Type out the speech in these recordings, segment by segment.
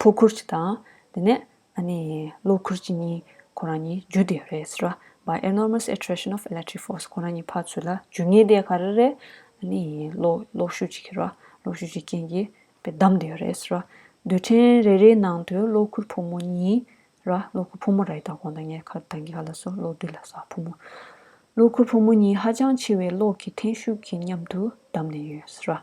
ཕོ་ཁུར་གཅིག་དང། དེ་ནས། གློག་ཁུར་གཅིག་གཉིས་ཁོ་རང་གཉིས་རྒྱུ་དེ་རེད་ཟེར། By enormous attraction of electric force ཁོ་རང་གཉིས་འཕགས་ཚུལ་ལ་རྒྱུ་ངེས་དེ་ག་རེ་རེད། གློག་ཤུགས་ཀྱི་རེད། གློག་ཤུགས་ཀྱི་རྐྱེན་གྱིས་དེ་བསྡམས་དེ་རེད་ཟེར། རྡུལ་ཕྲན་རེ་རེའི་ནང་དུ་གློག་ཁུར་ཕོ་མོ་གཉིས། གློག་ཁུར་ཕོ་མོ་རེད་ད་གོང་ད་ངས་ཁ་དང་གི་ཁ་ལ་སོགས་གློག་རྡུལ་ལ་སོགས་ཕོ་མོ། གློག་ཁུར་ཕོ་མོ་གཉིས་ཧ་ཅང་ཆེ་བའི་གློག་གི་འཐེན་ཤུགས་ཀྱིས་མཉམ་དུ་བསྡམས་ནས་ཡོད་ཟེར།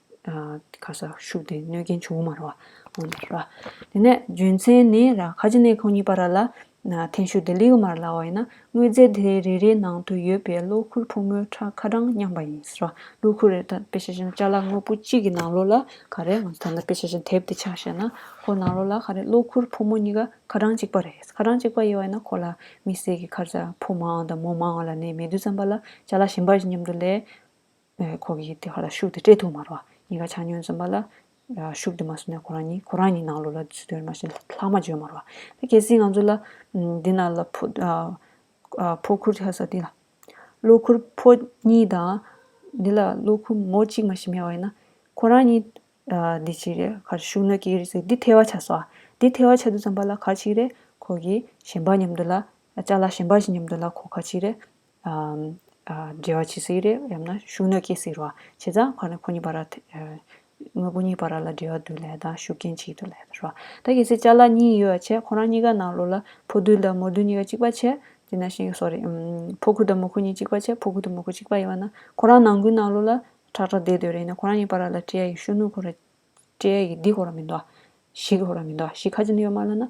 ཁ་སར་ཤུགས་ལྡན་གནོད་རྐྱེན་ཆུང་ངུ་མ་རོ། དེ་ནས་རྒྱུ་མཚན་ནི་ཁ་ཆེ་གནས་ཁང་གཉིས་པ་ར་ལ་ཐན་ཤུགས་ལྡན་ལིའུ་མར་ལ་ཝའི་ན་དངོས་རྫས་དེ་རེ་རེའི་ནང་དུ་ཡོད་པའི་གློག་ཁུར་ཕོ་མོའི་ཁྲ་ཁ་གྲངས་མཉམ་པ་ཡིན། གློག་ཁུར་རེ་དང་དཔེ་ཆ་བཞིན་ལྕགས་ལ་དངོས་པོ་གཅིག་གི་ནང་ལོགས་ལ་ཁ་རེ་ང་ཚོ་ད་ལྟ་དཔེ་ཆ་བཞིན་དེབ་དེ་ཆགས་བྱས་ན་ཁོ་ནང་ལོགས་ལ་ཁ་རེ་གློག་ཁུར་ཕོ་མོ་གཉིས་ཀ་ཁ་གྲངས་གཅིག་པ་རེད་ཁ་གྲངས་གཅིག་པ་ཡོད་བས་ན་ཁོ་ལ་མི་སེར་གྱི་ཁར་ཕོ་མང་དང་མོ་མང་ལ་ནས་མེད་དུས་རྩམ་པ་ལ་ལྕགས་ལ་ཞིམ་པ་བཞིན་མཉམ་དུ་ལས། ཁོ་གིས་དེ་ག་ལ་ཤུགས་དེ་སྤྲད་ཐུབ་མ་རོགས། གཉིས་ཀ་ཆ་སྙོན་འཛོམས་པ་ལ། ཤུགས་དེ་མ་བཟོ་ནས་ཁོ་རང་གཉིས་ཁོ་རང་གཉིས་ནང་ལོགས་ལ་ཚུད་དོན་མ་བྱེད་ལྷག་མ་བརྗོད་མ་རོགས། ད་གལ་སྲིད་ང་ཚོ་ལ། འདི་ན་ལ་ཕོ། ཕོ་ཁུར་ཆ་ས་འདི་ལ། གློ་ཁུར་ཕོ་གཉིས་དང། འདི་ལ་གློ་ཁུར་མོ་གཅིག་མ་ཞིག་མེད་པ་ཡིན་ན། ཁོ་རང་གཉིས། འདི་ཅི་རེད་ག་རེ་ཤུགས་གནོད་ཀྱི་ཡོད་རེད་ཟེར་འདི་ཐལ་བ་ཆགས་སོ། འདི་ཐལ་བ་ཆགས་འདུག་བསམ་པ་ལ་ག་ཅིག་རེད་ཁོ་གིས་གཞན་པ་མཉམ་དུ་ལ། ལྕགས་ལ་གཞན་པ་ཞིག་མཉམ་དུ་ལ་ཁོ་ག་ཅིག་རེད། འབྲེལ་བ་བྱེད་སྲིད་རེད་ཡང་ན་ཤུགས་གནོད་སྐྱེལ་སྲིད་རོ་བྱེད་ཙང་ཁོ་ནི་ཁོ་གཉིས་བར་དངོས་པོ་གཉིས་བར་ལ་འབྲེལ་བ་དུ་ལས་དང་ཤུགས་རྐྱེན་གཅིག་ཏུ་ལས་ད་རོ། ད་གལ་སྲིད་བཅའ་ལག་གཉིས་ཡོད་བ་བྱས་ཁོ་རང་གཉིས་ཀ་ནང་ལོགས་ལ་ཕོ་རྡུལ་དང་མོ་རྡུལ་གཉིས་ཀ་གཅིག་པ་བྱས་དེ་ན་ཤིང་སོརི་ཕོ་ཁུ་དང་མོ་ཁུ་གཉིས་གཅིག་པ་བྱས་ཕོ་ཁུ་དང་མོ་ཁུ་གཅིག་པ་ཡིན་བ་ན་ཁོ་རང་ནང་ཁུའི་ནང་ལོགས་ལ་ཁྲག་ཁྲག་བསྡད་འདོད་རེད་ཡིན་ན་ཁོ་རང་གཉིས་བར་ལ་སྤྲེའ་ཡི་ཤུགས་གནོད་ཁོ་ར་སྤྲེའ་ཡི་འདི་ཁོ་ར་མི་འདུག་ཤི་ཁོ་ར་མི་འདུག་ཤི་ཁ་ཅིན་ཡོད་མ་ལ་ན།